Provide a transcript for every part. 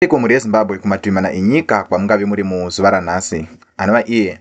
Ariko mhuri yeZimbabwe kumativi mana enyika kwamungave muri muzuva ranhasi, anova iye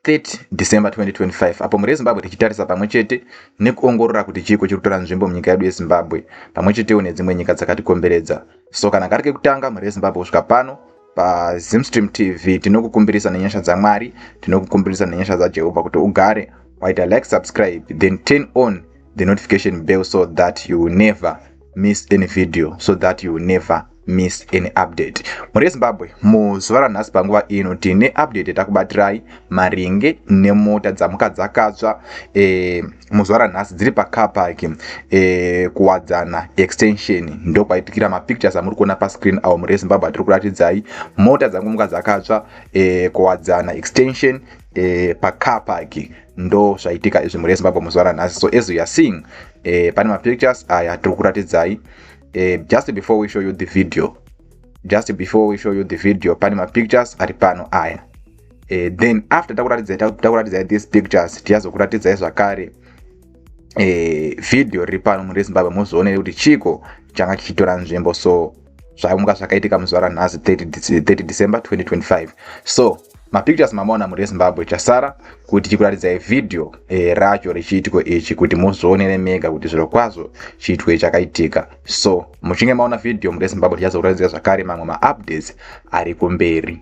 30 December 2025, apo mhuri yeZimbabwe tichitarisa pamwe chete nekuongorora kuti chiiko chiri kutora nzvimbo munyika yedu yeZimbabwe pamwe chetewo nedzimwe nyika dzakatikomberedza. So kana kari kekutanga mhuri yeZimbabwe kusvika pano paZimstream TV tinokukumbirisa nenyasha dzaMwari, tinokukumbirisa nenyasha dzaJehovha kuti ugare waita like, subscribe then turn on the notification bell so that you never miss any video so that you never miss any update mhuri yezimbabwe muzuva ranhasi panguva ino tine update yatakubatirayai maringe nemota dzamuka dzakatsva e, muzuva ranhasi dziri pacarpark e, eh, kuwadzana extension ndokwaitikira mapictures amuri kuona pascreen awo mhuri yezimbabwe atiri kuratidzai mota dzangomuka dzakatsva e, kuwadzana extension eh, pacar park ndo zvaitika izvi mhuri yezimbabwe muzuva ranhasi so as youare seeing eh, pane mapictures aya tiri kuratidzai eh, just before we show you the video just before we show you the video pane mapictures ari pano aya eh, then after takuratidzai takuratidzai these pictures tichazokuratidzai zvakare eh, video riri pano mhuri yezimbabwe muzoone kuti chiko changa chichitora nzvimbo so zvanga zvakaitika muzuva ranhasi 30 december 2025 so mapictures mamaona muri ezimbabwe chasara kuti chikuraridza video e, racho rechiitiko ichi kuti muzvionere mega kuti zviro kwazvo chiitiko ichi chakaitika so muchinge maona video muri ezimbabwe tichazokuratidzira zvakare mamwe maupdates ari kumberi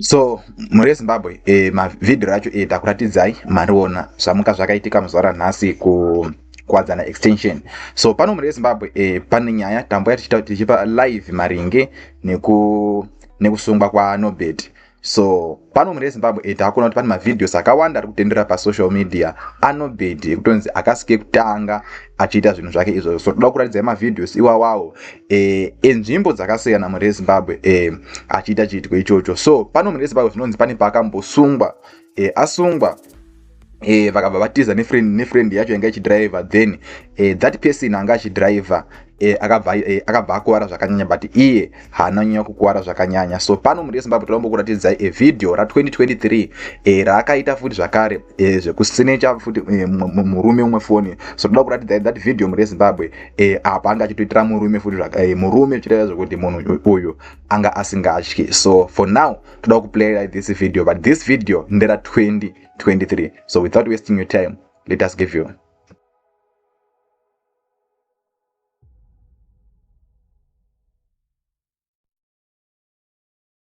so mhuri yezimbabwe e, mavhidhio acho e, takuratidzai mariona zvamuka zvakaitika muzuva ranhasi ku kwadzana extension so pano mhuri yezimbabwe e, pane nyaya tambouya tichipa live maringe neku nekusungwa kwanobet so pano mune zimbabwe e takuona kuti pane mavhidhios akawanda ari kutendera pasocial media anobedi ekutonzi akasike kutanga achiita zvinhu zvake izvozvo so toda kuratidzai mavhidhios iwawawo e, enzvimbo dzakasiyana mhuri yezimbabwe e, achiita chiitiko ichocho so pano mhuri yezimbabwe zvinonzi pane paakambosungwa e, asungwa e, vakabva vatiza nefriend nefriend yacho yanga ichidriver then e, that person anga achidriver e, akabva e, akabva akuvara zvakanyanya but iye haana nyanya kukuvara zvakanyanya so pano mhuri yezimbabwe toda kumbokuratidzai evidhio ra 2023 e, raakaita futi zvakare eh, zvekusinecha futi eh, murume umwe foni so toda kuratidza that video muri yezimbabwe eh, apa anga achitoitira murume futi eh, murume uchitaira zvekuti munhu uyu anga asingatyi so for now toda kuplaya this video but this video ndera 2023 so without wasting your time let us give you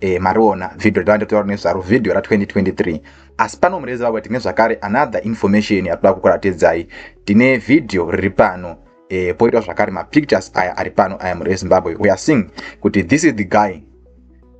eh, mariona video ravanda kutaura nezvaro video ra 2023 asi pano murezi vavo tine zvakare another information yatoda kukuratidzai tine video riri pano eh, poitwa zvakare mapictures aya ari pano aya murezi zimbabwe we are seeing kuti this is the guy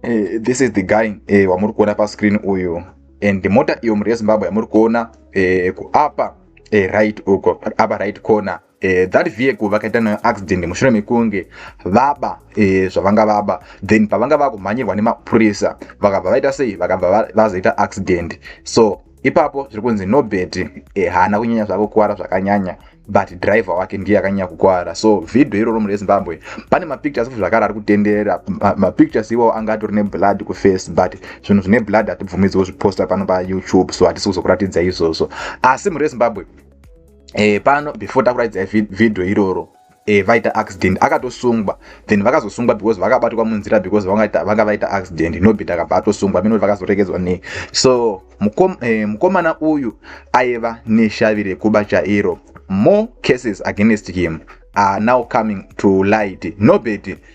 eh, this is the guy eh, wamuri kuona pascreen uyu and mota iyo murezi zimbabwe yamuri kuona eh, kuapa eh, right uko apa right corner eh, that vehicle vakaita nayo accident mushure mekunge vaba eh, zvavanga vaba then pavanga vakumhanyirwa nemapurisa vakabva vaita sei vakabva vazoita accident so ipapo zviri kunzi nobert eh, haana kunyanya zvako kukuvara zvakanyanya but driver wake ndiye akanyanya kukuvara so vhidho iroro munhu wezimbabwe pane mapictures futi zvakare ari kutenderera mapictures ma iwawo anga atori neblood kuface but zvinhu zvine blood hatibvumidziwo zviposta pano payoutube so hatisi kuzokuratidza izvozvo asi munhu wezimbabwe e, pano before takuratidza video iroro e, vaita accident akatosungwa then vakazosungwa because vakabatwa munzira because vanga vaita accident nobit akabva atosungwa mino vakazoregedzwa nei so mukom, e, mukomana uyu aiva neshavi rekuba chairo more cases against him are now coming to light nobit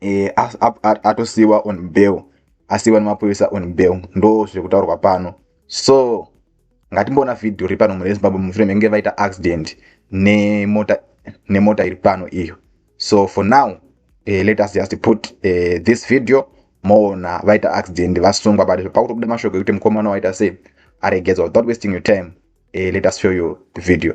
e, atosiiwa on bail asiiwa nemapurisa on bail ndo zviri kutaurwa pano so ngatimboona vhidhiyo ri pano mune zimbabwe mushure menge vaita accident nemota nemota iri pano iyo so for now eh, let us just put eh, this video moona vaita accident vasungwa but pakutobuda mashoko ekuti mukomana waita sei aregedzwa without wasting your time eh, let us show you the video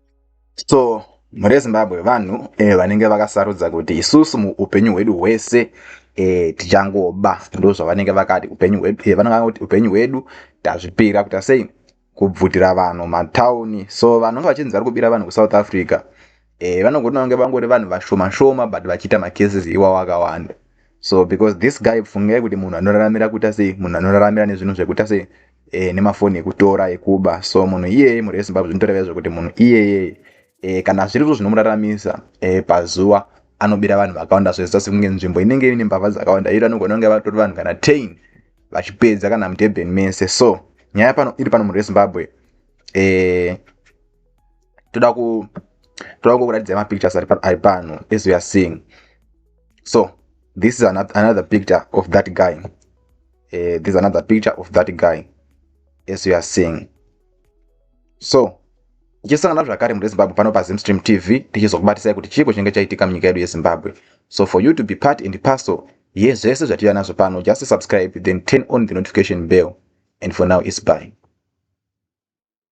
so mhuri yezimbabwe vanhu eh, vanenge vakasarudza kuti isusu muupenyu hwedu hwese eh, tichangoba ndo zvavanenge vakati upenyu hwedu eh, vanenge kuti upenyu hwedu tazvipira kuita sei kubvutira vanhu matauni so vanhu vachinzi vari kubira vanhu kusouth africa eh, vanogona kunge vangori vanhu vashoma shoma but vachiita macases iwawo akawanda so because this guy pfungei kuti munhu anoraramira kuita sei munhu anoraramira nezvinhu zvekuita sei e, nemafoni ekutora ekuba so munhu iyeye mhuri yezimbabwe zvinotoreva izvo kuti munhu iyeye e, kana zviri zvo zvinomuraramisa e, pazuva anobira vanhu vakawanda zvezita sekunge nzvimbo inenge ine mbavha dzakawanda iro anogona kunge vatori vanhu kana tain vachipedza kana mudurban mese so nyaya pano iri pano munhu wezimbabwe e, toda ku toda kukuratidza mapictures ari pano as we are seeing so this is another picture of that guy uh, there's another picture of that guy as you are seeing so tichisangana zvakare muri zimbabwe pano pazimstream tv tichizokubatisai kuti chiiko chinenge chaitika munyika yedu yezimbabwe so for you to be part and parcel yezvese zvatira nazvo pano just subscribe then turn on the notification bell and for now is by